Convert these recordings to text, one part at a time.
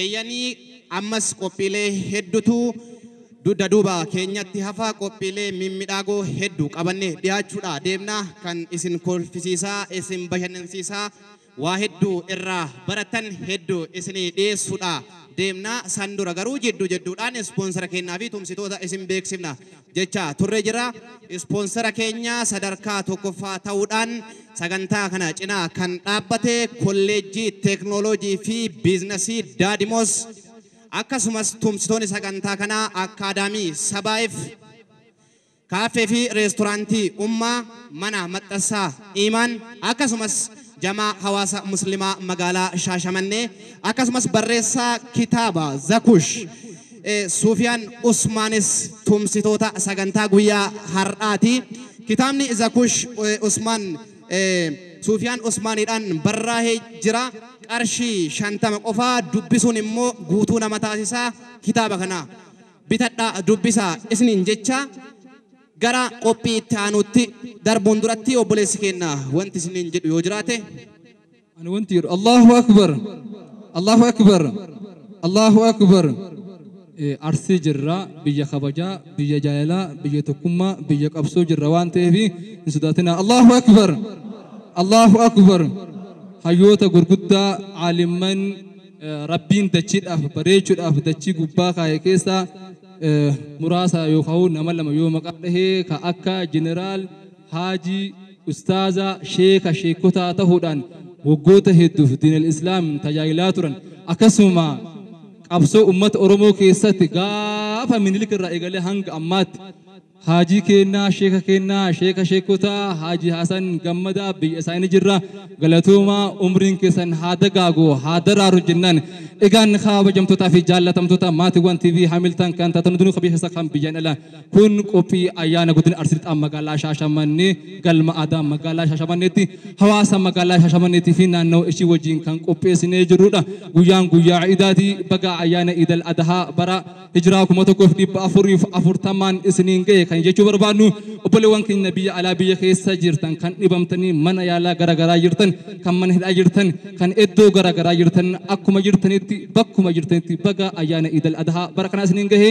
Eeyyanii ammas qophiilee heddutu dudda duuba keenyatti hafa qophiilee mimmidhaagoo heddu qabanne dhiyaachuudha deemna kan isin kolfisiisaa isin bashannansiisaa waa heddu irraa barattan heddu isinii dhiyeessuudha deemna san dura garuu jiddu jidduudhaan ispoonsara keennaa fi tumsitoota isin beeksifna jechaa turre jira. Ispoonsera keenya sadarkaa tokkoffaa ta'uudhaan sagantaa kana cinaa kan dhaabbate Kolleejjii Teeknooloojii fi Biiznasii Daadimoos akkasumas tumsitoonni sagantaa kanaa Akkaadaamii Sabaayif, Kaaffee fi Reestoraantii Ummaa, Mana Maxxassaa Iimaan akkasumas Jamaa Hawaasa Muslimaa Magaalaa Shaashamannee akkasumas barreessaa kitaaba Zakush Suufiyaan Usmaanis tumsitoota sagantaa guyyaa har'aati. Kitaabni Zakush Usmaan Suufiyaan Usmaaniidhaan barraahee jira. Qarshii shantama qofaa dubbisuun immoo guutuu nama taasisa. Kitaaba kana bitadhaa dubbisaa isiniin jecha gara qophii itti aanuutti darbuun duratti obboleessi keenya wanti isiniin jedhu yoo jiraate Ani wanti jedhu Allahu Akbar Allahu Akbar Allahu Akbar Eh, Arsii jirra biyya kabajaa biyya jaalalaa biyya tokkummaa biyya qabsoo jirra waan ta'eef hin sodaatinaa Allahu Akbar Allahu Akbar hayyoota gurguddaa caalimman eh, rabbiin dachiidhaaf bareechuudhaaf dachii gubbaa kaa'e keessaa eh, muraasa yookaan nama lama yoo maqaa dhahee ka akka jeneraal Haajii, Ustaaza, Sheeka, Sheekkotaa tahuudhaan waggoota hedduuf Diinal Islaam tajaajilaa turan. Akkasuma qabsoo ummata Oromoo keessatti gaafa Minilik irraa eegalee hanga ammaatti Haajii keennaa, Sheeka keennaa, Sheeka Sheekkotaa, Haajii Hasan Gammadaa biyya isaanii jirra. Galatoomaa umriin keessan haa dagaagu, haa daraaru jennaan. Egaan kabajamtootaa fi jaallatamtoota maatiiwwan TV Hamilton kan taatan hundinuu kan biyya keessaa kan biyyaan alaa. Kun qophii ayyaana Godina Arsii Lixaa Magaalaa Shaashamannee Galma Aadaa Magaalaa Shaashamanneetti hawaasa Magaalaa Shaashamanneetii fi naannawa ishii wajjiin kan qopheessinee jirruudha. Guyyaan guyyaa Iidaati. Baga ayyaana Iidal Adahaa bara Hijraa 1440n isiniin gahe kan jechuu barbaadnu obboleewwan keenya biyya alaa biyya keessa jirtan kan dhibamtanii mana yaalaa gara garaa jirtan kan mana hidhaa jirtan kan iddoo gara garaa jirtan akkuma jirtanitti bakkuma jirtanitti baga ayyaana Iidal Adahaa bara kanaa isiniin gahe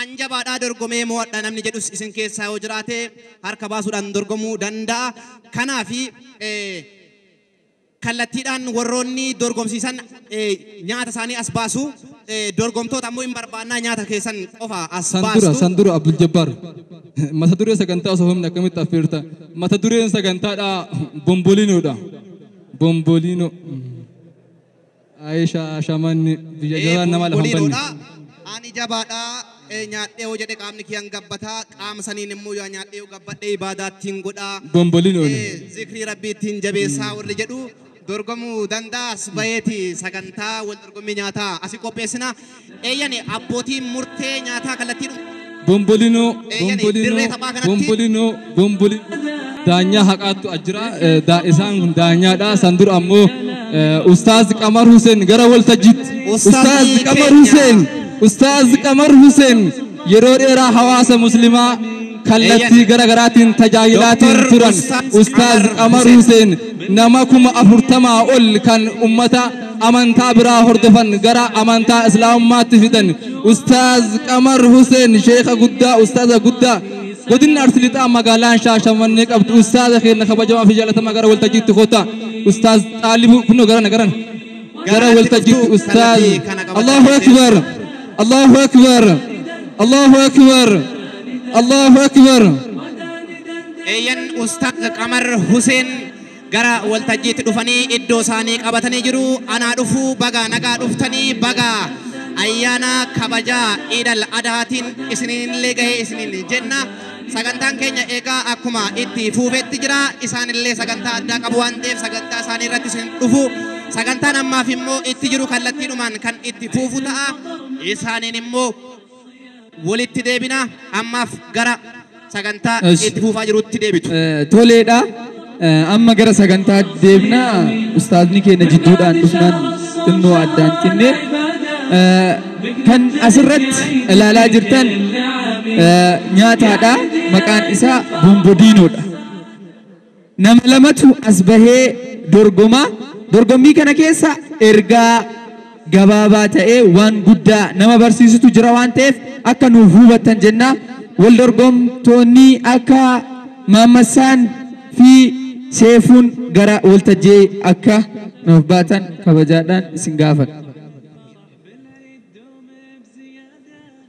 An jabaadha dorgomee mo'adha namni jedhus isin keessaa yoo jiraate harka baasuudhaan dorgomuu danda'a. Kanaafi kallattiidhaan warroonni dorgomsiisan nyaata isaanii as baasu. Dorgomtoota ammoo hin barbaannaa nyaata keessan qofa as San dura, baastu. san dura Abdul Jabbaar. Mata duree sagantaa osoo himne akkamitti affeerta? Mata dureen sagantaadhaa bombolinoodha. Bombolino. Aisha shamanni biyya Ee jabaan namaa lafa hin banne. bumbuniidhoodha. Ani jabaadha. Ee, Nyaadhee yoo jedhe qaamni kiyya hin gabbata. Qaama saniin immoo yaa nyaadhee yoo gabbadhe ibaadaa ittiin godha. Bombolin oole. Ee, Zikrii rabbii ittiin jabeessaa warri jedhu dorgomuu danda'a as baheeti sagantaa wal dorgommii nyaataa asi qopheessina. Eeyyani, abbootiin murtee nyaataa kallattiidhuma. Bombolino, Eeyyani, bombolino, dirree taphaa kanatti. bombolino, bombolino. Daanyaa haqaattu as jira. Eh, daa- Isaan kun daanyaadha. San dura ammoo eh, Ustaaz Qamar Huseen gara waltajjiitti. Ustaazi Ustaaz Qamar keenya. Huseen. Ustaaz Qamar Huseen. yeroo dheeraa hawaasa muslimaa kallattii gara garaatiin tajaajilaatiin Doktor turan Ustaaz Ustaaz Qamar Qamar Huseen. Huseen nama kuma afurtamaa ol kan ummata amantaa biraa hordofan gara amantaa islaamummaatti fidan Ustaaz Qamar Huseen sheekha guddaa ustaaza guddaa godinni Arsii Lixaa magaalaan Shaashamannee qabdu ustaaza keenya kabajamaa fi jaalatamaa gara waltajjiitti kootta Ustaaz Xaalibuu kunoo garana garana. gara waltajjiitti ustaaz Allahu akbar Allahu akbar Allahu akbar Allahu akbar eeyyan ustaaz qamar huseen gara waltajjiitti dhufanii iddoo isaanii qabatanii jiru anaa dhufuu baga nagaa dhuftanii baga ayyaana kabajaa iidal adaatiin isiniin illee gahee isiniin jenna Sagantaan keenya egaa akkuma itti fuufetti jira. Isaan illee sagantaa addaa qabu waan ta'eef sagantaa isaanii irratti isin dhufu. Sagantaan ammaaf immoo itti jiru kallattiidhumaan kan itti fuufu ta'a. Isaaniin immoo walitti deebina. Ammaaf gara sagantaa Esh. itti fuufaa jirutti deebitu. Eh, Toleedha. Amma gara sagantaa deemna ustaazni keenya jidduudhaan dhufnaan xinnoo addaan cinne kan asirratti ilaalaa jirtan nyaataadha maqaan isaa bombodiinoodha. Nama lamatu as bahee dorgomaa dorgommii kana keessa ergaa gabaabaa ta'ee waan guddaa nama barsiisutu jira waan ta'eef akka nuuf hubattan jenna. Wal dorgomtoonni akka Maammassaan fi Seefuun gara waltajjii akka nuuf baatan kabajaadhaan isin gaafata.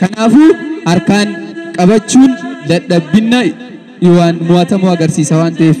Kanaafuu harkaan qabachuun dadhabbinna Yihowaan mo'atamuu agarsiisa waan ta'eef.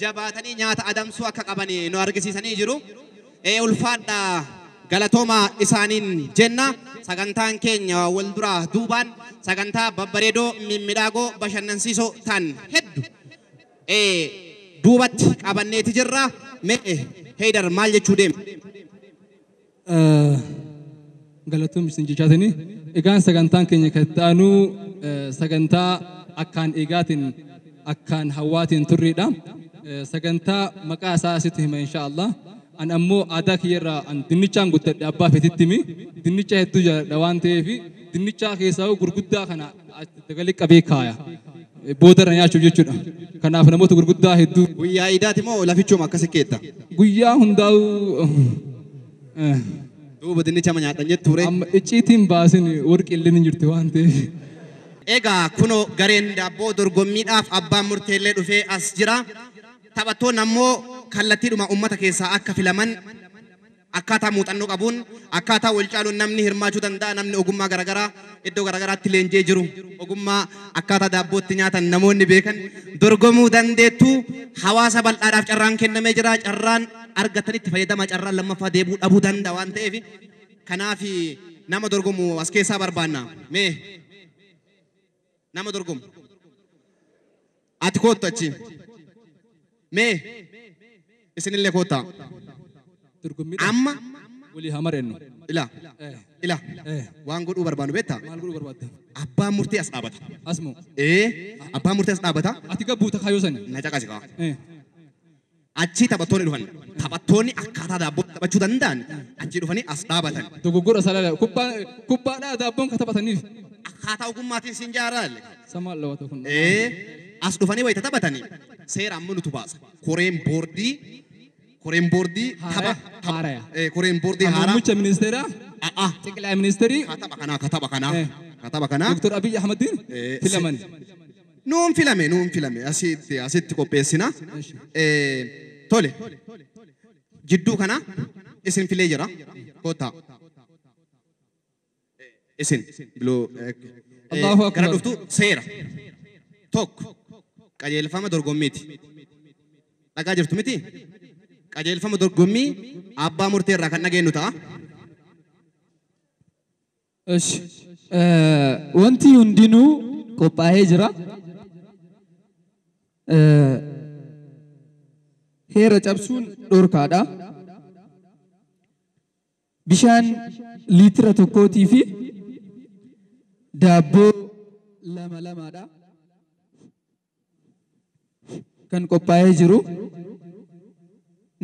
jabaatanii nyaata adamsuu akka qaban nu argisiisanii jiru. Ee ulfaadhaa galatoomaa isaaniin jenna. Sagantaan keenya wal duraa duubaan sagantaa babbareedoo mimmidhaagoo bashannansiisoo ta'an heddu ee duubatti qabanneeti jirra. Mee Heydar maal jechuu deema? Galatoom isin jechaa sanii. Egaan sagantaan keenya kan itti aanu sagantaa akkaan eegaatiin akkaan hawwaatiin turreedha. Sagantaa maqaa isaa asitti hima insha Allah. An ammoo aadaa kiyyarraa an dinnichaan guddadhe abbaa fetittimi. Dinnicha hedduu jaaladha waan ta'eef dinnichaa keessaa gurguddaa kana Dagali qabee kaaya. Booda irra nyaachuuf jechuudha. Kanaaf namoota gurguddaa hedduu. Guyyaa iidaati moo lafichuma akkasi keetta? Guyyaa hundaa'u eh, Duuba dinnicha ma nyaadhan jettu ture. amma icciitiin baasin warqi illee ni jirti waan ta'eef. Egaa kunoo gareen daabboo dorgommiidhaaf abbaan murteellee dhufee as jira. Taphattoonni ammoo kallattiidhuma uummata keessaa akka filaman Akkaataa muuxannoo qabuun, akkaataa walcaaluun namni hirmaachuu danda'a, namni ogummaa garagaraa iddoo garagaraatti leenji'ee jiru, ogummaa akkaataa daabboo itti nyaatan namoonni beekan dorgomuu dandeettu. Hawaasa bal'aadhaaf carraan kennamee jira. Carraan argattan itti fayyadamaa, carraan lammaffaa deebi'uu dhabuu danda'a waan ta'eef kanaaf nama dorgomu as keessaa barbaanna. Mee. Nama dorgomu. Ati koottu achi. Mee isinillee koottaa. Dorgommiidha. Amma Walii haa mari'annu. ila Eh. ila Eh. waan godhuu barbaannu beektaa? Maal godhuu barbaadda? Abbaan murtii as dhaabata. Asmoo. Ee abbaan murtii as dhaabata. Ati gabbuuta kaayoo sani. Na caqasi kaa. Eh. Achii taphattoonni dhufan. Taphattoonni akkaataa daabboon taphachuu danda'an achii dhufanii as dhaabatan. Dogoggora salala. Kubbaa kubbaadhaa daabboon ka taphataniif. Akkaataa ogummaatiin siin jaaraalle. Sa maal dhawata kun? Ee, as dhufanii wayita taphatanii seera amma nutu baasa. Koreen boordii koreen boordii tapha Haaraya, tapha- haaraya. ee, koreen boordii haaraa Muummicha ministeeraa, a'aa xiqilaa ministeerii, ka tapha kanaa ka tapha kanaa Eh. ka tapha kanaa Dr. Abiy Ahmadiin Eh, filaman. Nuun filame nuun filame asitti asitti qopheessina. Eshi. Eh, Tole jidduu kana isin filee jira kootaa isin biloo eh, Allahu Akbar. gara dhuftu seera tokko qajeelfama dorgommiiti dhagaa jirtu miti qajeelfama dorgommii abbaa murtee irraa kan dhageenyu ta'a. Esh wanti hundinuu qophaa'ee jira. Heera cabsuun dhorkaadha. Bishaan liitira tokkootii fi daabboo lama lamaadha. kan qophaa'ee jiru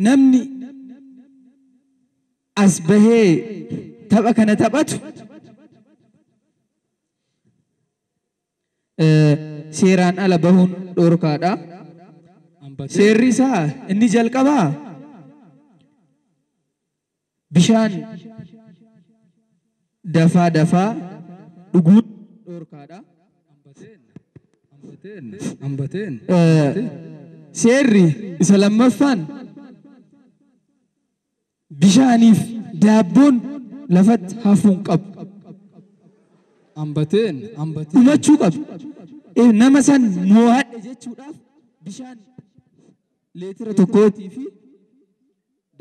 namni as bahee tapha kana taphatu eh, seeraan ala bahuun dhorkaadha. Seerri isaa inni jalqabaa Bishaan dafaa dafaa dhuguun dhoorkaadha. Seerri isa lammaffaan bishaaniif daabboon lafatti hafuu hin qabu. Dhumachuu qabu. Nama san moohadhe jechuudhaaf bishaan leetira tokkootii fi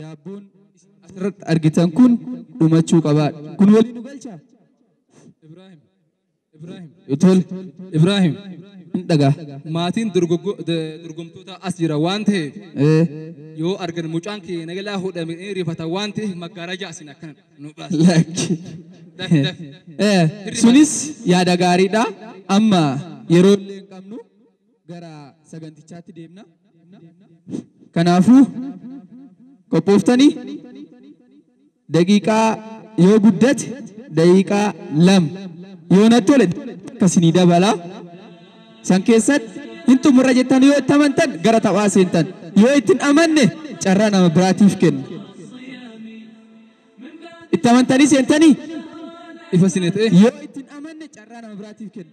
Daabboon isin asirratti argitan kun dhumachuu qaba. Kun waliin nu galcha? Ibraahim. Ibraahim. Tol. Ibraahim. Hin dhagaa. Maatiin dorgoggo- d- dorgomtootaa as jira waan ta'eef Eh, yoo argan mucaan kee nagalaa hodhame ni rifata waan ta'eef maggaarajaa asiin akkana nu baasa. Lakki. Daf, daf. Eh, Sunis yaada gaariidha. Amma yeroo illee hin qabnu. gara sagantichaatti deemna. Kanaafuu qophooftanii daqiiqaa yoo guddate daqiiqaa lama yoo natti tole akkasii dabala. San keessatti hin xumurra jettan yoo itti amantan gara taphaa seentan yoo itti hin amanne carraa nama biraatiif kenna. Itti amantanii seentanii Ifa sine ta'e. yoo itti hin amanne carraa nama biraatiif kenna.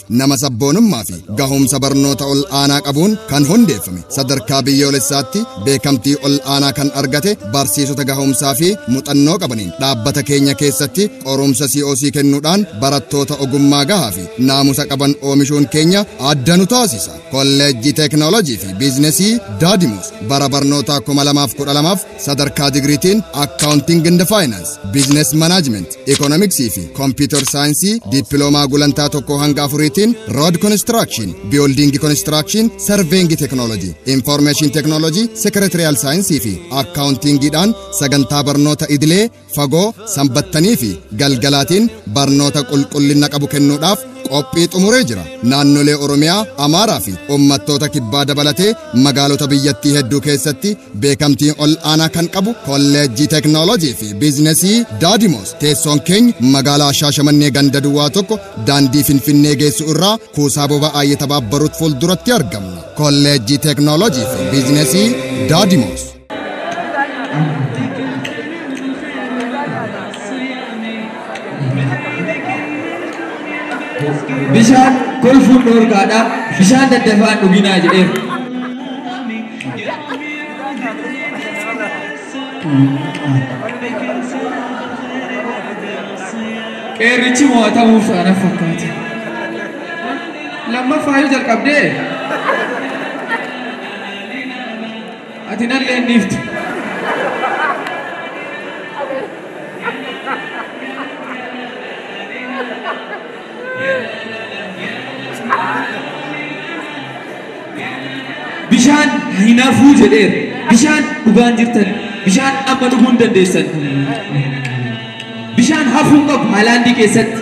Nama sabboonummaa fi gahumsa barnoota ol aanaa qabuun kan hundeeffame sadarkaa biyyoolessaatti beekamtii ol aanaa kan argate barsiisota gahumsaa fi muxannoo qabaniin dhaabbata keenya keessatti qorumsa COC kennuudhaan barattoota ogummaa gahaa fi naamusa qaban oomishuun keenya adda nu taasisa. Kolleejjii Teeknooloojii fi Biiznesii Daadimuus bara barnootaa 2012 Sadarkaa digriitiin Accounting and Finance, Business Management, Economics fi Computer Saayinsii dippiloomaa gulantaa tokkoo hanga afuriitiin Road Construction, Building Construction, Surveying Technology, Information Technology, Secretarial Saayinsii fi Accounting dhaan sagantaa barnoota idilee fagoo sanbattanii fi galgalaatiin barnoota qulqullinna qabu kennuudhaaf qophii xumuree jira. Naannolee Oromiyaa, Amaaraa fi ummattoota kibbaa dabalatee magaalota biyyattii hedduu keessatti beekamtii ol aanaa kan qabu kolleejjii teeknooloojii fi biizinesii Daadimoos teessoon keenya magaalaa Shaashamannee ganda duwwaa tokko daandii Finfinnee geessu irraa kuusaa boba'aa Yetabaabbaruut fuulduratti argamna. Kolleejjii teeknooloojii fi biizinesii Daadimoos. Bishaan kolfuun dhoorkaadha. Bishaan daddafaa dhuginaa jedheera. Qeerrichi mo'atamuuf ana fakkaata. Lammaffaa yoo jalqabdee Ati nallee hin dhiiftu. Bishaan hin hafuu jedheera. Bishaan dhugaan jirtan. Bishaan amma dhuguu hin dandeessan. Bishaan hafuu hin qabu Haalaandii keessatti.